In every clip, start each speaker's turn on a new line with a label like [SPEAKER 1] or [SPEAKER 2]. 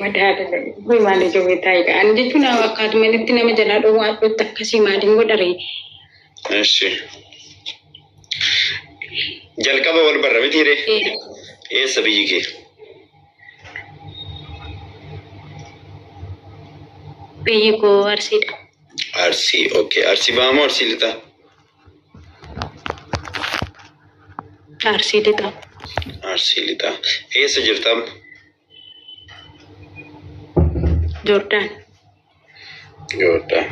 [SPEAKER 1] Madaala kun maal ija beektaa egaa ani jechuun akkaatu malitti nama jalaa dhowwaa adduutti akkasii maaliin godhare. Eshi.
[SPEAKER 2] Jalqaba wal barra miti hiree. Eessa biyyi kee?
[SPEAKER 1] Biyyi koo arsiidha. Arsii
[SPEAKER 2] okay. Arsii bahamoo arsii lixaa? Arsii Lixaa. Arsii Lixaa. Eessa jirta amma?
[SPEAKER 1] Jordaan.
[SPEAKER 2] Jordaan.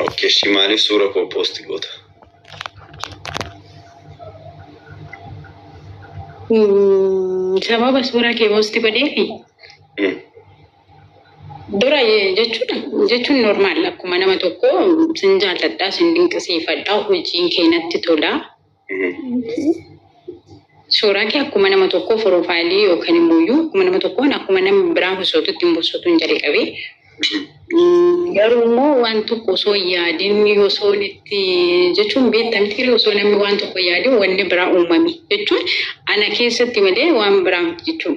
[SPEAKER 2] Okay, shi maaliif suura koo poosti goota?
[SPEAKER 1] Sababa suuraa kee poosti godheefi. Mm. Dura jechuun jechuun normaal akkuma nama tokko sin jaalladhaa sin dinqisiifadhaa hojiin kee natti tola. Suuraa kee akkuma nama tokkoo foroofaayilii yookaan immoo iyyuu akkuma nama tokkoon akkuma nama biraa hosootu ittiin bosotuun jalqabe. Garuu immoo waan tokko osoo hin yaadin osoo itti jechuun beektamtii osoo namni waan tokko yaadin wanni biraa uumame jechuun ana keessatti malee waan biraa miti jechuun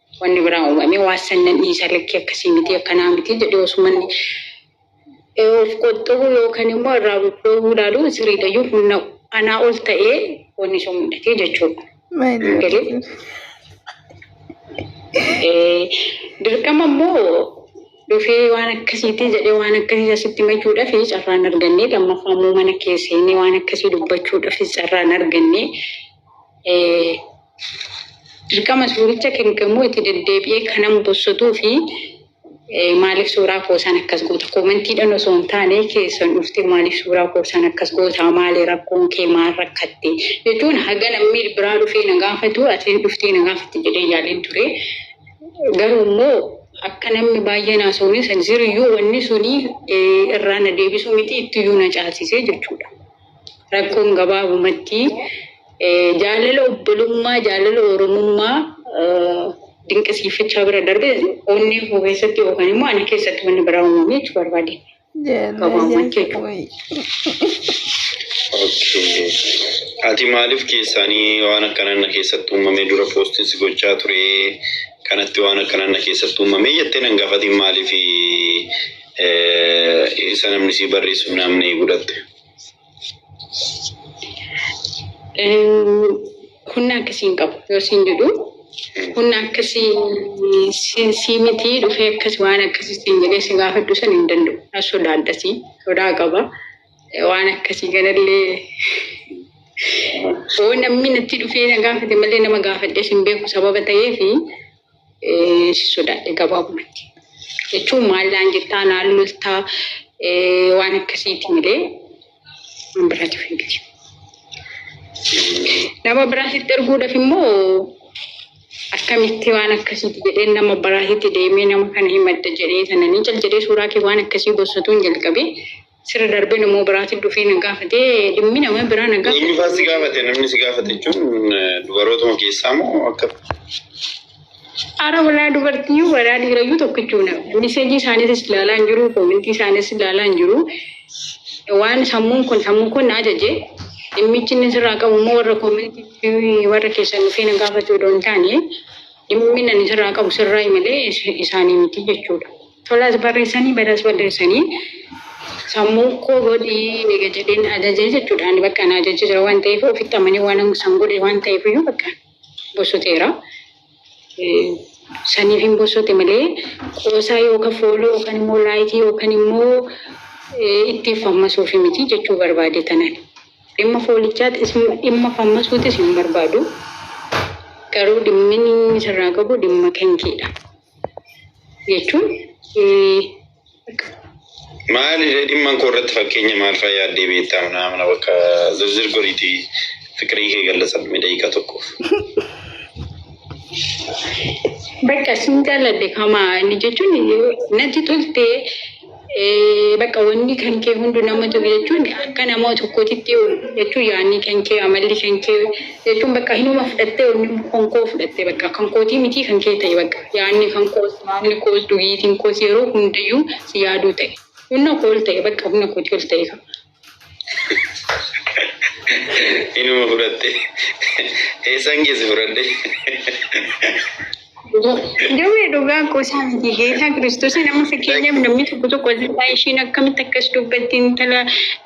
[SPEAKER 2] Wanni biraa uumamee waan san nan dhiisa lakkii akkasii miti akkanaa miti jedhee osoo manni of qoxxobu yookan immoo irraa dhoowwuu ilaaluun siriidha yoo humna anaa ol ta'ee wanni sun mudhatee jechuudha. Galee dirqama immoo dhufee waan akkasiitii jedhee waan akkasii asitti machuudhaaf carraan argannee lammaffaa immoo mana kee seenee waan akkasii dubbachuudhaaf carraan argannee Dirqama suuricha kenggamuu itti deddeebi'ee kanan bossotuu fi maaliif suuraa koosaan akkas goota koomentiidhan osoo hin taane keessan dhuftee maaliif suuraa koosaan akkas goota maali rakkoon kee maal rakkatte jechuun haga namni biraa dhufee na gaafatu atiin dhuftee na gaafatte jedhee yaaleen ture garuu immoo akka namni baay'een haasawunis jiruyyuu wanni sunii irraa na deebisuu miti ittiyyuu na caalsisee jechuudha. Rakkoon gabaabumatti jaalala obbolummaa, jaalala Oromummaa dinqisiifachaa bira darbe onnee koo keessatti yookaan immoo ani keessatti wanni biraa uumame jechuu barbaade. Gabaabumatti jechuudha. Okay. Ati maaliif keessaanii waan akkanaan na keessatti uumame dura poostiin si gochaa ture kanatti waan akkanaan na keessatti uumame jettee nan gaafatiin maaliif Isa namni sii barreessu namni gudhatte.
[SPEAKER 1] Kunni akkasii hin qabu yoo siin jedhu kunni akkasii si- sii miti dhufee akkasi waan akkasii siin jedhee si gaafadhu san hin danda'u. Na sodaadhasi sodaa qaba waan akkasii ganallee yoo namni natti dhufee na gaafate malee nama gaafadhee sin beeku sababa ta'eefi eh, si sodaadhe gabaabumatti. Jechuun maal naan jettaa naan loltaa eh, waan akkasiiti malee waan biraatiif hin miti. Nama biraatitti erguudhaaf immoo akkamitti waan akkasiiti jedhee nama biraatitti deemee nama kana himadda jedhee sananii cal jedhee suuraa kee waan akkasii gossatuun jalqabee Sira darbee nama biraatiin dhufee na gaafate dhimmi nama biraa na gaafate. Eenyufaa si gaafate namni
[SPEAKER 2] si gaafate jechuun eh, dubarootuma keessaa moo akka
[SPEAKER 1] Ara walaa dubartii walaa dhiirayyuu tokkichuudha. Miseejii isaaniitis ilaalaa hin jiru, koomintii isaaniis ilaalaa hin jiru. Waan sammuun kun sammuu kun na ajaje. Dhimmichi inni sirraa qabu immoo warra koomintii fi warra keessan dhufee na gaafachuu odoo hin taane dhimmi inni sirraa qabu sirraa malee is- isaanii miti jechuudha. Tolaas barreessanii badaas balleessanii sammuu koo godhi ega jedheen ajaje jechuudha. Ani bakka na ajajee jira waan ta'eef ofitti amanee waan an san godhe waan ta'eef iyyuu bakka bossoteera. Saniif hin bossote malee qoosaa yookaan fooloo yookaan immoo laayikii yookaan immoo ittiin fammasuufi miti jechuu barbaade tanan. Dhimma foolichaatis dhimma fammasuutis hin barbaadu. Garuu dhimmin inni sirraa qabu dhimma kenkeedha. jechuun
[SPEAKER 3] Maali ree dhimman koo irratti fakkeenya maal faa yaaddee beektaa manaa mana bakka zirzir goriiti fiqirii kee gallasan mee daqiiqaa tokkoof.
[SPEAKER 1] bakka sin jaaladhe kamaa inni jechuun natti toltee Bakka wanni kan kee hundu nama tobe jechuun akka nama tokkootitti jechuun yaanni kan kee amalli kan kee jechuun bakka hinuma fudhattee wanni kan koo fudhattee bakka kan kootii mitii kan kee ta'e bakka yaanni kan koos yaanni koos dugiitiin koos yeroo hundayyuu si yaaduu ta'e humna koo ol ta'e bakka humna kootii ol ta'e
[SPEAKER 3] Inuma fudhatte. Eessaan geesse fudhadhe?
[SPEAKER 1] Dawee dhugaa qoosaa miti geetaa kiristoosii nama fakkeenyaaf namni tokko tokko asirraa ishiin akkamitti akkas dubbatti intala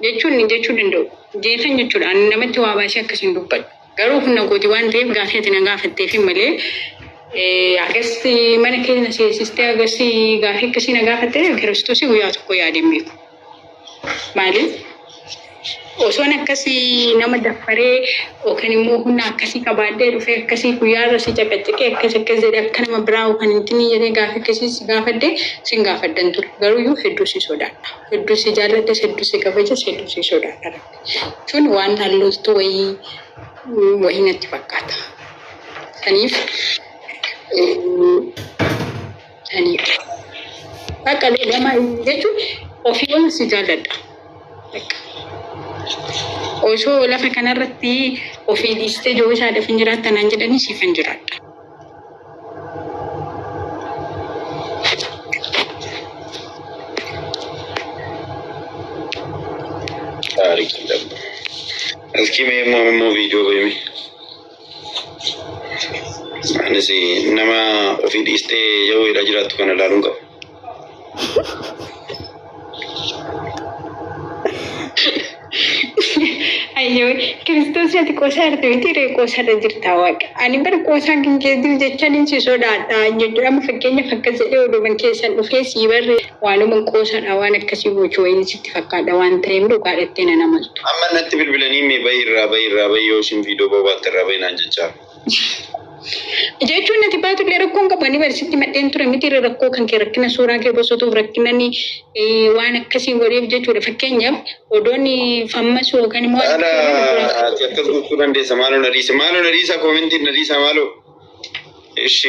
[SPEAKER 1] jechuun ni jechuu danda'u. Geetan jechuudha ani namatti waa baasee akkas hin dubbadhu. Garuu humna kooti waan ta'eef gaaffii ati na gaafatteefi malee eh, akkasitti mana keenya seensistee akkasii gaaffii akkasii na gaafattee kiristoosii guyyaa tokko yaadeen beeku. Maaliif osoon akkasii nama daffaree yookaan immoo humna akkasii qabaadhee dhufee akkasii guyyaa irra si caqacaqee akkas akkas jedhee akka nama biraa yookaan hin tinii jedhee gaafa akkasii si gaafadhee sin gaafadhan ture. Garuu iyyuu hedduu si sodaadha. Hedduu si jaalladhes hedduu si kabajas hedduu si sodaadha. Jechuun waan hallooftuu wayii wayii natti fakkaata. Kaniif Aniidha. Bakka lama jechuun ofii waan si jaalladha. Bakka. Osoo lafa kanarratti ofii dhiistee yoo isaadhaaf hin jiraatta naan jedhanii siif hin jiraadha. Taarikiidha.
[SPEAKER 3] Askii mee immoo immoo viidiyoo beemi. Anis nama ofii dhiistee yoo weedhaa jiraattu kana ilaaluun qabu.
[SPEAKER 1] Ayyoo kiristoos ati qoosaa jirti miti ree qoosaadha jirta waaqa. Ani bara qoosaan kan kee jiru jechaniin si sodaadha jechuudha. Amma fakkeenyaaf akkas jedhee oduuman keessan dhufee sii barree. Waanuman qoosaadha waan akkasii gochu wayiin sitti fakkaadha waan taheef dhugaa dhattee nan amantu. Amma natti bilbilanii
[SPEAKER 3] me bahi irraa bahi irraa bahi yoo isin video bobaatte irraa bahi naan jechaa. Jechuun
[SPEAKER 1] nati baatu illee rakkoon qabu ani bari sitti madheen ture miti irra rakkoo kan kee rakkina suuraa kee bosotuuf rakkinani waan akkasii godheef jechuudha fakkeenyaaf odoon fammasu yookaan immoo Haala ati akkas
[SPEAKER 3] gochuu dandeessa maaloo na dhiisa maaloo na dhiisa koomentiin na dhiisa maaloo. እሺ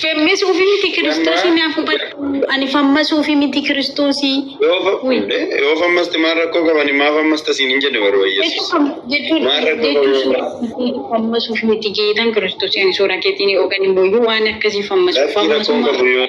[SPEAKER 1] Femmes ofii miti kiristoosii naaf hubadhu. Ani fammas ofii miti kiristoosii. yoo fa- Ui.
[SPEAKER 3] eh, yoo fammasti maal rakkoo qabani maaf ammasta siin hin jenne Jechuun barbaayyeessus fam- jechuun Maal rakkoo jechuun qabu? suuraa keetii fammas ofii miti
[SPEAKER 1] jeetan kiristoosii ani suuraa keetiin yookaan immoo iyyuu waan akkasii fammas Lakkii rakkoon qabu yoo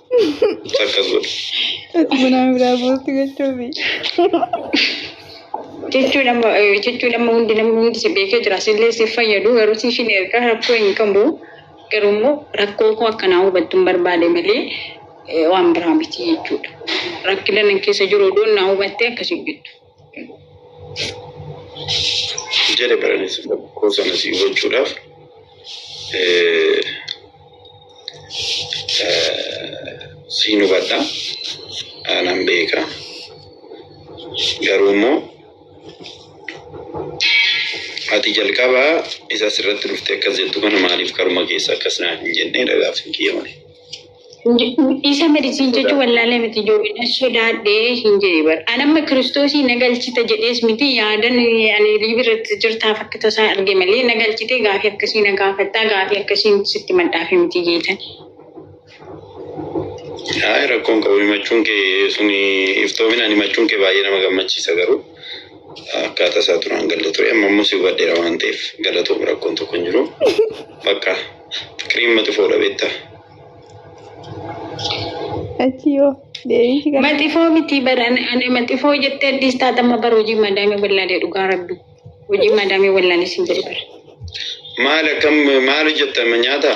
[SPEAKER 3] Akkas godhu. Bunaa
[SPEAKER 4] biraa buusti gochuufi.
[SPEAKER 1] Jechuun amma eh, jechuun amma hundi namni hundi si beekee jira sillee siif fayyadu garuu siif hin erga rakkoo hin qabu garuu immoo rakkoo koo akkanaa hubattu hin barbaade malee eh, waan biraa miti jechuudha. Rakkina nan keessa jiru odoon naa hubattee akkasii jettu.
[SPEAKER 3] jedhe baranis rakkoo sana si hubachuudhaaf siin hubadha aanan beeka garuu immoo ati jalqaba isa asirratti dhufte akkas jettu kana maaliif karuma keessa akkas naa hin jennee dhagaaf hin kiyyamne.
[SPEAKER 1] Isa medicine jechu wallaale miti ijoollee na sodaadhe hin jedhe bar. An amma kiristoosii na galchita jedhees miti yaadan ani liivi irratti jirtaa fakki tasaa arge malee na galchitee gaafii akkasii na gaafattaa gaafii akkasiin sitti madhaafi miti jeetan.
[SPEAKER 3] Haay rakkoon qabu himachuun kee suni iftoominaan himachuun kee baay'ee nama gammachiisa garuu akkaataa isaa duraan galle ture amma immoo si hubadheera waan ta'eef galatoom rakkoon tokko hin jiru bakka fikiriin mati foodha beektaa.
[SPEAKER 4] Achi yoo deebiinsi gara Maxifoo miti bara
[SPEAKER 1] ani maxifoo jettee addis taatama bara hojii madaamii wallaalee dhugaa rabbi hojii madaamii wallaalee sin jedhe bara. Maal
[SPEAKER 3] akkam
[SPEAKER 1] maal
[SPEAKER 3] hojjettama
[SPEAKER 1] nyaata?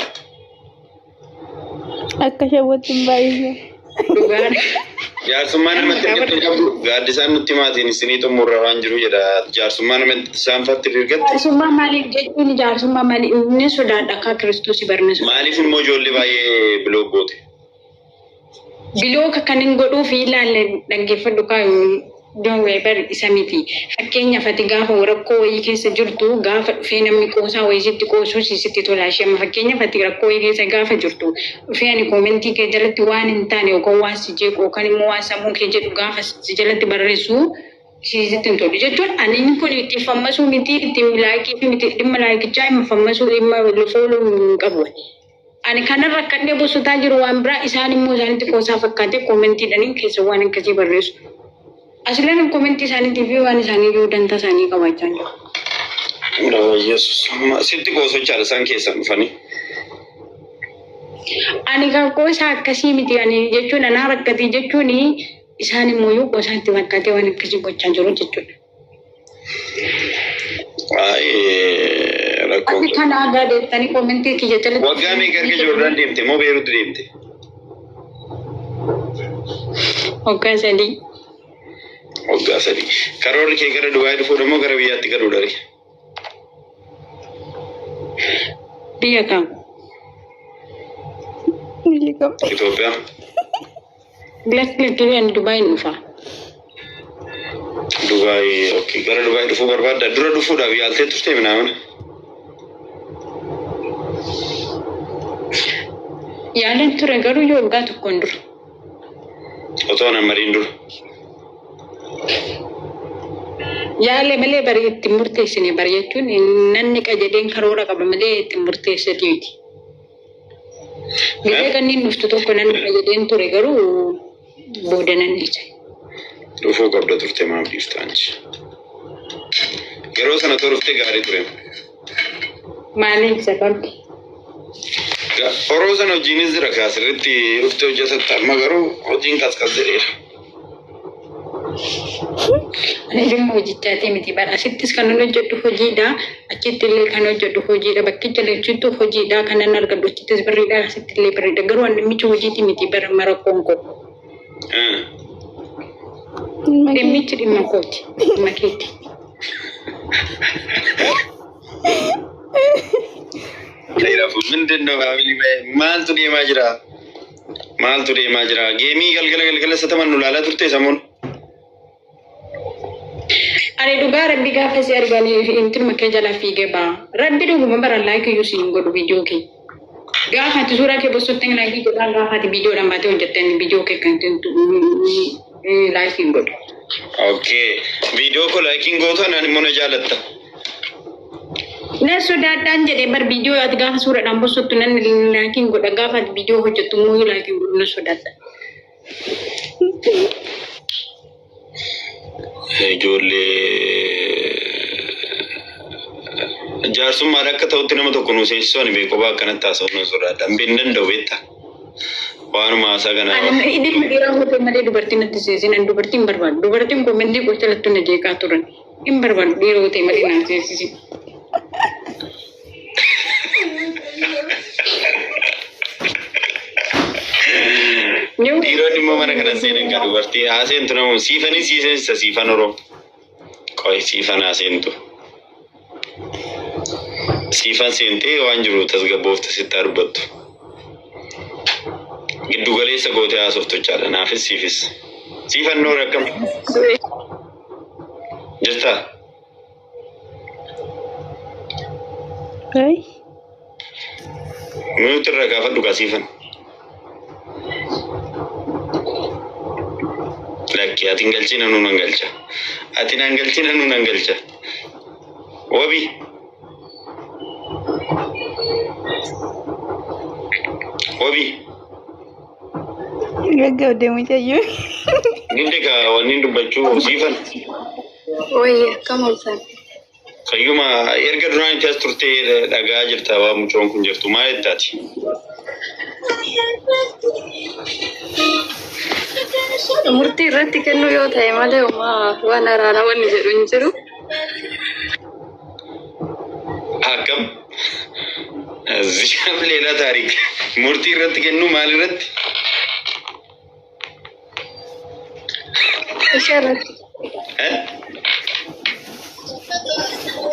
[SPEAKER 4] akka shawwatti hin baay'isne.
[SPEAKER 1] Dhugaan. Jaarsummaa
[SPEAKER 3] namatti ergatte qabdu gaaddisaan nutti maatiin isinii xumurra waan jiru jedha. Jaarsummaa namatti isaan fatti ergatte. Jaarsummaa maaliif jechuun
[SPEAKER 1] jaarsummaa maaliif inni sodaadha akka kiristoosii barneessu. Maaliif immoo ijoollee
[SPEAKER 3] baay'ee biloog goote?
[SPEAKER 1] Bilooka kan hin godhuuf ilaalle dhaggeeffadhu kaayuu. Don't worry bari isa miti. Fakkeenyaaf ati gaafa rakkoo wayii keessa jirtu gaafa dhufee namni qoosaa wayii sitti qoosuu si sitti tola ishee amma fakkeenyaaf ati rakkoo wayii keessa gaafa jirtu dhufee ani koomentii kee jalatti waan hin taane yookaan waan si jeequ yookaan immoo waan sammuu kee jedhu gaafa si jalatti barreessu si sitti hin tolu jechuun ani inni kun itti fammasuu miti itti laayikii fi miti dhimma laayikichaa hin fammasuu dhimma fooluu hin qabu. Ani kanan rakkadhee bossotaa jiru waan biraa isaan immoo isaanitti qoosaa fakkaatee koomentiidhaniin keessa waan akkasii barreessu. Asilanan koomentii isaaniitii fi waan isaanii iyyuu dantaa isaanii qabaachaa hin jiru. Yaa
[SPEAKER 3] Yesus. Amma sitti qoosochaadha isaan keessan dhufanii.
[SPEAKER 1] Ani kan qoosaa akkasii miti ani jechuun anaa rakkatee jechuun isaan immoo iyyuu qoosaa itti fakkaatee waan akkasii gochaa jiru jechuudha. Rakkoo. Ati kan aadaa deettanii koomentii kiyya jalatti. Waggaa meeqa erga Joordaan
[SPEAKER 3] deemte moo Beeruutti deemte?
[SPEAKER 1] Waggaa sadii.
[SPEAKER 3] Waggaa sadii. Karoorri kee gara Dubaayii dhufuudha moo gara biyyaatti galuudha ree?
[SPEAKER 1] Biyya kam?
[SPEAKER 4] Itoophiyaa.
[SPEAKER 3] Lakki lakki
[SPEAKER 1] mee ani Dubaayin dhufa.
[SPEAKER 3] Dubaay okay. gara Dubaay dhufuu barbaadda dura dhufuudhaaf yaaltee turtee minaamina.
[SPEAKER 1] Yaaleen ture garuu yoo waggaa tokkoon dura.
[SPEAKER 3] Otoo nan mariin dura.
[SPEAKER 1] Yaale malee bari itti murteessine bari jechuun nanni qajedheen karoora qaba malee itti murteessati miti. Garee kanneen dhuftu tokko nan dhufa jedheen ture garuu booda nan dhiise. Dhufuu
[SPEAKER 3] qabda turte maaf dhiifta anchi? Yeroo sana turte gaarii ture.
[SPEAKER 1] Maaliif sababni? Ga- Oroo
[SPEAKER 3] sana hojiinis jira kaa sirriitti dhufte hojjetatta amma garuu hojiin qasqas jedheera.
[SPEAKER 1] Anillee hojichaatii miti bara asittis kanan hojjedhu hojiidha achittillee kan hojjedhu hojiidha bakkicha lachuttuu hojiidha kanan argadhu achittis birriidha asittillee birriidha garuu an dhimmicha hojiitii miti bara mara koonko dhimmichi dhimma kooti dhimma keeti.
[SPEAKER 3] Reerafu mindin no faamilii ba'e maaltu deemaa jira? Maaltu deemaa jira? Geemii galgala galgala isa taman nu laalaa turte samuun.
[SPEAKER 1] Ani dhugaa rabbi gaafa si arganii fi intin makkee jala fiigee ba'a. Rabbi dhuguma bara laayikii iyyuu siin godhu viidiyoo kee. Gaafa ati suuraa kee bossotti hin laayikii godhaan gaafa ati viidiyoodhaan baatee hojjettee viidiyoo kee kan Laayikiin godhe. Okay.
[SPEAKER 3] Viidiyoo koo laayikiin gootu anaan immoo na jaalatta.
[SPEAKER 1] Na sodaadhaan jedhee bar viidiyoo ati gaafa suuraadhaan bosottu nan laayikiin godha gaafa ati viidiyoo hojjettu immoo yoo laayikiin godhu na sodaadha.
[SPEAKER 3] Ijoollee jaarsummaan akka ta'utti nama tokko nu seensisuu ani beekoo ba'a akkanatti haasa'uu na sodaadha. Hin danda'u beektaa? Waanuma haasaa kana Ani inni kun dhiiraa hojii
[SPEAKER 1] malee dubartiin natti seesin ani dubartiin hin barbaadu. Dubartiin kun mendii gocha lattuu na jeeqaa turan. Hin barbaadu dhiira hojii malee naan seesisi.
[SPEAKER 3] Yoo dhiironni immoo mana kana seenan kan dubartii haaseen tunamu siifanii siiseensa siifan oroo. Qoy siifan haa seentu. Siifan seentee waan jiru tasgabboofte sitti haa dubbattu. Giddu galeessa gootee haasoftu jechaadha naafis siifis. Siifan noor akkam jirtaa? Ay, Mute irra gaafadhu kaa siifan. Lakki ati hin galchiin anuu nan galcha. Ati nan galchiin anuu nan galcha. Wabi. Wabi.
[SPEAKER 4] Gaggabde mucayyoo. Gidde
[SPEAKER 3] kaa wanni dubbachuu siifan.
[SPEAKER 4] Wayya kam olsan. Kayyuma
[SPEAKER 3] erga duraan itti as turtee dhagaa jirta waan mucoon kun jirtu maa jettaati?
[SPEAKER 4] Murtii irratti kennuu yoo ta'e malee uumaa
[SPEAKER 3] waan araana wanni jedhu hin jiru. Akkam? Zishaaf leelaa taariik. Murtii irratti kennuu maal irratti?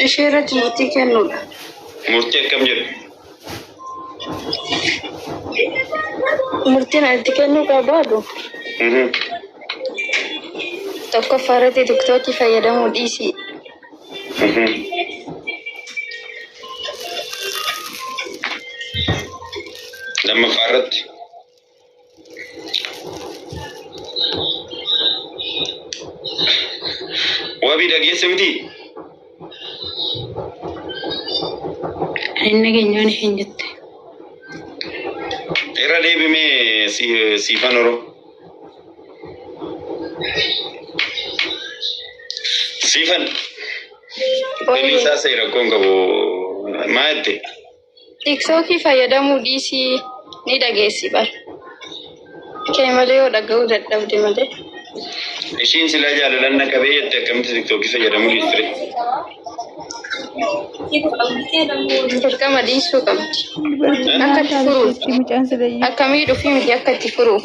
[SPEAKER 4] Ishee irratti murtii kennuudha. Murtii akkam
[SPEAKER 3] jedhu?
[SPEAKER 4] Murtiin itti kennuu qabaadu tokkoffaa irratti tiktookii fayyadamuu dhiisii.
[SPEAKER 3] Lammaffaa irratti Wabii dhageesse miti.
[SPEAKER 1] Inni keenyaan hin jette.
[SPEAKER 3] Irra deebimee si- siifan oro. Siifan. Daliisaa seera koon qabu. Maa jette? Tiktookii
[SPEAKER 4] fayyadamuu dhiisii ni dhageessi bar kee malee yoo dhaga'uu dadhabde malee. Ishiin
[SPEAKER 3] silaa jaalalaan na qabee jette akkamitti tiktookii fayyadamuu dhiifte?
[SPEAKER 4] Dirqama dhiisuu qabdi. Akka itti furuuf. Akka miidhuuf miti akka itti furuuf.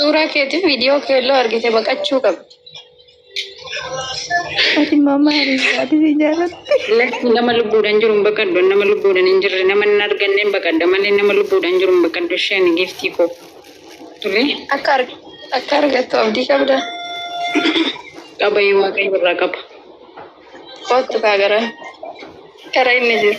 [SPEAKER 3] Suuraa
[SPEAKER 4] keetiin viidiyoo keelloo argite baqachuu qabdi.
[SPEAKER 5] Ati mama hariisaati si jaalatti. Lakki nama
[SPEAKER 1] lubbuudhaan jiru hin baqadhu. Nama lubbuudhaan hin jirre nama hin arganne hin baqadha malee nama lubbuudhaan jiru hin baqadhu. Ishee ani giiftii koo. Tole. Akka arg-
[SPEAKER 4] akka argattu abdii qabda.
[SPEAKER 1] Qaba yoo waaqayyo irraa qaba.
[SPEAKER 4] Kottu kaa gara gara inni jiru.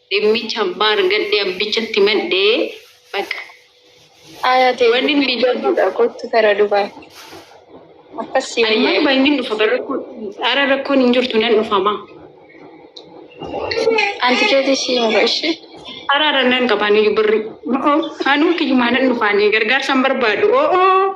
[SPEAKER 1] Dhimmicha abbaa argadhe abbichatti madde baqa.
[SPEAKER 4] Aya tee Wanin dubbii miidhama. jabduudha kottu kara dubai akkas si Ani mana wayya baay'inni
[SPEAKER 1] dhufa bara rakkoo ara rakkoon hin jirtu nan dhufama.
[SPEAKER 4] anti keeti ishii mura ishii Araara nan
[SPEAKER 1] qabaani birri. Oo anuu kiyyumaa nan dhufaani gargaarsa hin barbaadu. Oo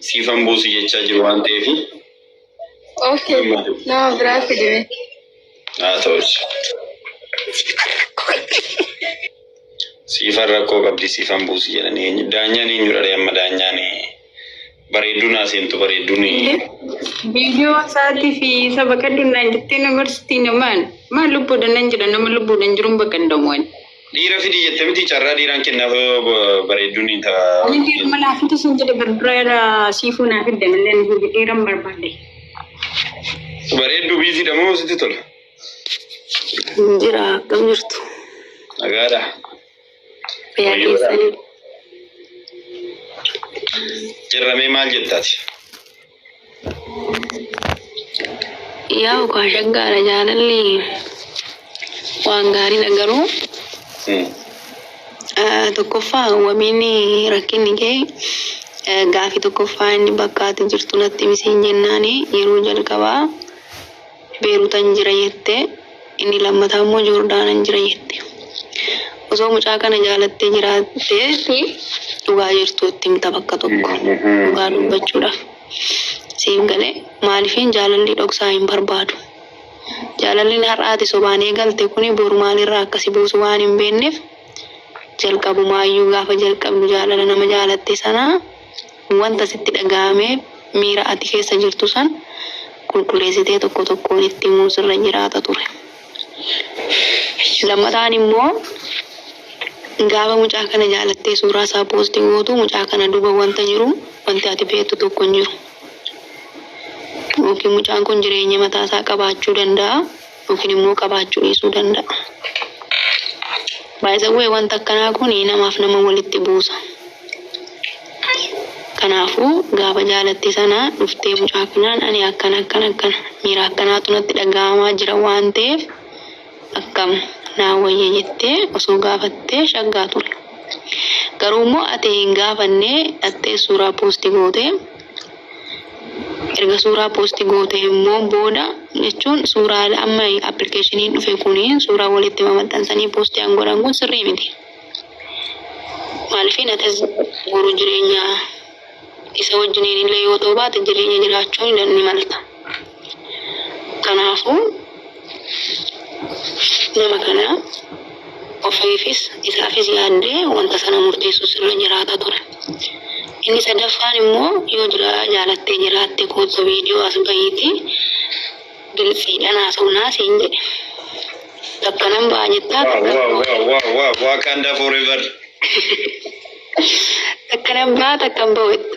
[SPEAKER 3] Siifan buusi jechaa jiru waan ta'eef.
[SPEAKER 4] Okay. Nama biraa fidime. Haa
[SPEAKER 3] ta'us. Siifan rakkoo qabdi siifan buusi jedhanii eenyu- daanyaan eenyudha ree amma daanyaan bareedduu naa seentu bareedduun
[SPEAKER 1] Viidiyoo isaatii fi isa baqadhu naan jettee na barsiitii namaan. Maal lubbuudhaan nan jira nama lubbuudhaan jiruun baqadhamuun. Dhiira fidii
[SPEAKER 3] jette miti carraa dhiiraan kennaaf bareedduun hin ta'a. Ani dhiiruma naa fidi
[SPEAKER 1] sin jedhe barbara irra siifuu naa fidde malee nu fidi dhiiran barbaadde. Bareedduu
[SPEAKER 3] biiziidha moo sitti tola? Jira
[SPEAKER 4] akkam jirtu? Nagaadha.
[SPEAKER 3] Fayyaa
[SPEAKER 4] keessanii?
[SPEAKER 3] Jirramee maal jettaati?
[SPEAKER 4] Yaa ukaa shaggaadha jaalalli waan gaariidha garuu ah, tokkoffaa wabiin rakkinni kee eh, gaaffii tokkoffaa inni bakka ati jirtu natti ibsiin jennaani yeroo jalqabaa Beerutan jira jette inni lammataa immoo Joordaanan jira jette. Osoo mucaa kana jaalattee jiraatte dhugaa jirtu itti himta bakka tokko dhugaa dubbachuudhaaf. Siif galee maaliifin jaalalli dhoksaa hin barbaadu. Jaalallin har'a ati sobaan eegalte kuni boru maalirra akka si buusu waan hin beekneef jalqabumaayyuu gaafa jalqabdu jaalala nama jaalatte sanaa Wanta sitti dhaga'ame, miira ati keessa jirtu san qulqulleessitee tokko tokkoon itti himuun sirra jiraata ture. Lammataan immoo gaafa mucaa kana jaalattee suuraa isaa poosti gootu mucaa kana duuba wanta jiru wanti ati beektu tokko hin jiru. Yookiin mucaan kun jireenya mataa isaa qabaachuu danda'a. yookiin immoo qabaachuu dhiisuu danda'a. By the way wanta akkanaa kun namaaf nama walitti buusa. Kanaafuu gaafa jaalattii sana dhuftee mucaa kanaan ani akkana akkana akkana miira akkanaatu natti dhaga'amaa jira waan ta'eef akkam naa wayya jettee osoo gaafattee shaggaa ture. Garuu immoo ati hin gaafannee dhattee suuraa poosti gootee Erga suuraa post gootee immoo booda jechuun suuraa amma application dhufe kuni suuraa walitti mamaxxansanii post an godhan kun sirrii miti. Maaliif atis boru jireenya isa wajjiniin illee yoo ta'u baate jireenya jiraachuu ni malta. Kanaafuu nama kana ofiifis isaafis yaaddee wanta sana murteessuus irra jiraata ture. Inni sadaffaan immoo yoo jira jaalattee jiraatte koottu viidiyoo as bahiitii giltsiidhaan haasofnaa siin jedhe. Takka nan ba'a jettaa Wow, takka wow, wow, wow, wow.
[SPEAKER 3] Wakanda forever.
[SPEAKER 4] takka nan ba'a takka hin ba'u jetta.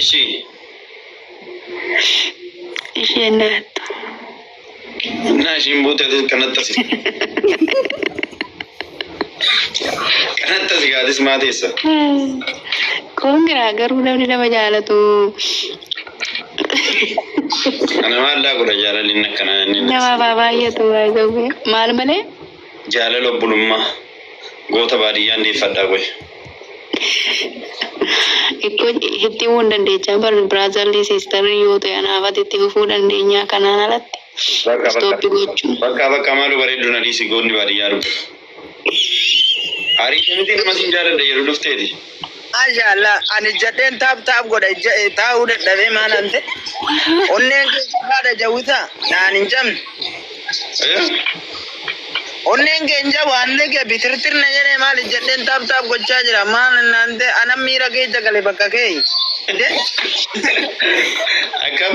[SPEAKER 3] Ishi.
[SPEAKER 4] Isheen na hattu.
[SPEAKER 3] Naa ishiin buutee atis kanatti asi. Kanatti asi gaatis maa teessa.
[SPEAKER 4] Kun giraa garuu namni nama jaalatu
[SPEAKER 3] Kana maallaa godha jaalalli inni akkanaa inni. nama baa baay'atu
[SPEAKER 4] baay'atu maal malee Jaalala
[SPEAKER 3] obbolummaa goota baadiyyaan deeffadhaa
[SPEAKER 4] qoy. Itti himuu hin dandeechaa bar brotherly sisterly yoo ta'e anaaf ati itti fufuu dandeenyaa kanaan alatti Bakka bakka stop gochuun. bakkaa bakkaa maaloo bareeddu
[SPEAKER 3] na dhiisi goonni baadiyyaa dhufu. Ariite miti nama sin jaaladha jedhu dhufteeti. Maasha Allah
[SPEAKER 6] ani jadheen taap taap godha ija- eh, taa'uu dadhabee maal ante onneen kee jabaadha jawwita naan hin jabne onneen kee hin jabu haalli kee bitirtir na jedhee maal jadheen taap taap gochaa jira maal naan te anan miira kee jagale bakka kee Inde?
[SPEAKER 3] Akkam?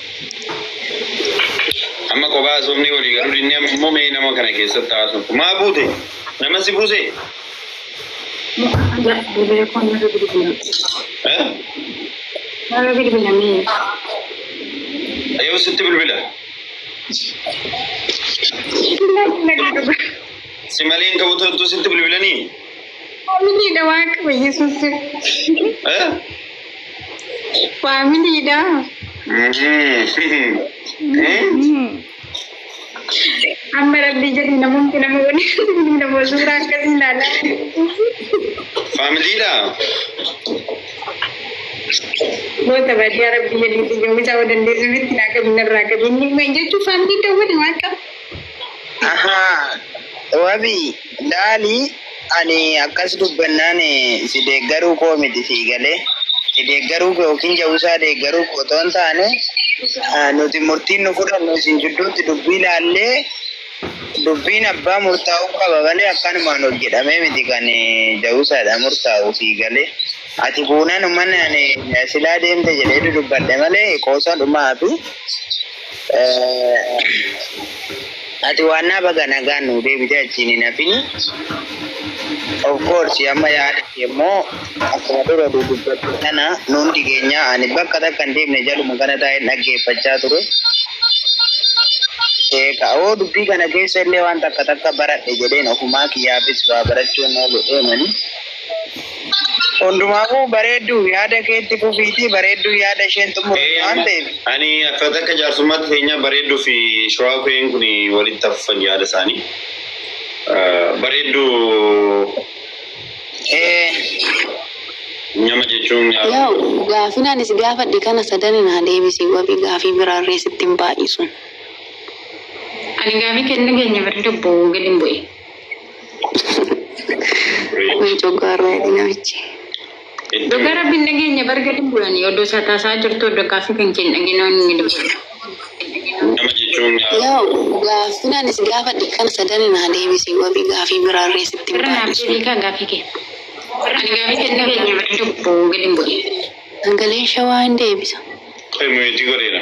[SPEAKER 3] Amma kophaa haasofnee walii galuu dinnee amma immoo mee nama kana keessatti haasoftu. Maa buute? Nama si buuse? Mu'ahaza bilbila koo narra bilbila. Eh? Narra bilbila mee. Yoo sitti bilbila. Bilbila bilbila. Si malee hin ka'u turtu sitti bilbilanii? Faamiliidha
[SPEAKER 1] waaqa yesuus. Faamiliidha. Amma rabbii jedhi namoonni nama waliin nama suuraa akkasii ilaalaa. Faamiliidha. Goota baadiyyaa rabbii jedhi xiyyoomisa waan dandeessu mitti naa qabu narraa qabu inni jechuun faamilii dawwani waaqa. Ahaa.
[SPEAKER 6] Wabii laalii ani akkas dubbannaan eh, si deeggaruu koo miti sii galee. Si deeggaruu koo yookiin jawusaa deeggaruu koo otoo hin taane ah, nuti murtiin nu fudhannu isin jidduutti dubbii laallee dubbiin abbaa murtaa'uu qaba malee akkanumaan ol jedhamee miti kan eh, jawusaadha murtaa'u sii galee. Ati buunan umman ani eh, silaa deemte jedhee dudubbadhe malee qoosaa dhumaa fi Ati waannaa baga nagaan nuu deebite achiin hin hafin. Of course amma yaada kee immoo akkuma dura dubbatte sana nu hundi keenya ani bakka takka hin deemne jaluma kana taa'een dhaggeeffachaa ture. Sheeka oo dubbii kana keessa illee waan takka takka baradhe jedheen ofumaa kiyyaafis waa barachuun oolu deemani. Hundumaafuu bareedduu yaada keetti fufiitii bareedduu yaada isheen xumurte waan ta'eef. Ani akkaataa akka
[SPEAKER 3] jaarsummaatti keenyaa bareedduu fi shawaa ku'een kun walitti hafuufan yaada isaanii. Bareedduu Ee, nyama jechuun nyaata. Yaa'u gaafin
[SPEAKER 4] ani si gaafadhe kana sadan naa deebisi wabi gaafii biraarree sitti hin baay'isu.
[SPEAKER 1] Ani gaafii kee hin dhageenye bari lubbuu gadi hin bu'e.
[SPEAKER 4] Kun coggaarraa jedhe namichi. Dhugaa
[SPEAKER 1] rabbiin dhageenya barga dhibbuudhani oddoo isaa taasaa jirtu oddoo gaaffii kan keen dhageenaan inni dubbisa. Nama
[SPEAKER 3] jechuun nyaata. Yoo gaaffiin
[SPEAKER 4] ani si gaafadhe kana sadan naa deebisi wabii gaafii biraa irree sitti hin Irra naaf baadhisu. deebii kaa
[SPEAKER 1] gaaffii kee. Ani gaaffii kee dhageenya barga dhibbu gadi hin bu'e. Sagaleen
[SPEAKER 4] shawaa hin deebisa. Qoy muyeetii
[SPEAKER 3] godheera.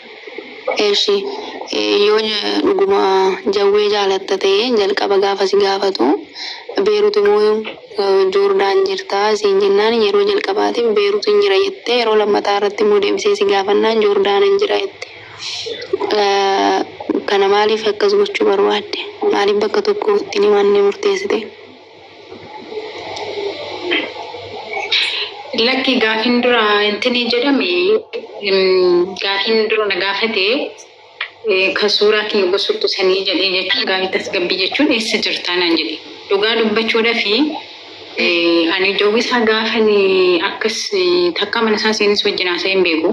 [SPEAKER 4] Eshi yoo dhuguma jawwee jaalatta ta'e jalqaba gaafa si gaafatu beerut immoo joordaan jirta siin jennaan yeroo jalqabaatiif beerutin jira jette yeroo lammataa irratti immoo deebisee si gaafannaan joordaanan jira jette kana maaliif akkas gochuu barbaadde maaliif bakka tokko ittiin himanne murteessite
[SPEAKER 1] Lakki gaafin dura intini jedhame gaafin dura na gaafate kan suuraa kiyya gosuttu sanii jedhee jechuun gaafii tasgabbii jechuun eessa jirtaa naan jedhe. Dhugaa dubbachuudha fi ani jawwisaa gaafan akkas takkaa mana isaa seenes wajjin haasa'ee hin beeku.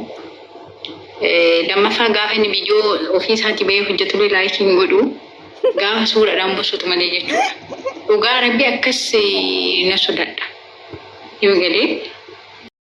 [SPEAKER 1] Lammaffaa gaafa inni biyyoo ofii isaatii bahee hojjetullee laayikii hin godhu. Gaafa suuraadhaan busutu malee jechuudha. Dhugaa rabbi akkas na sodadha. Yoo galee.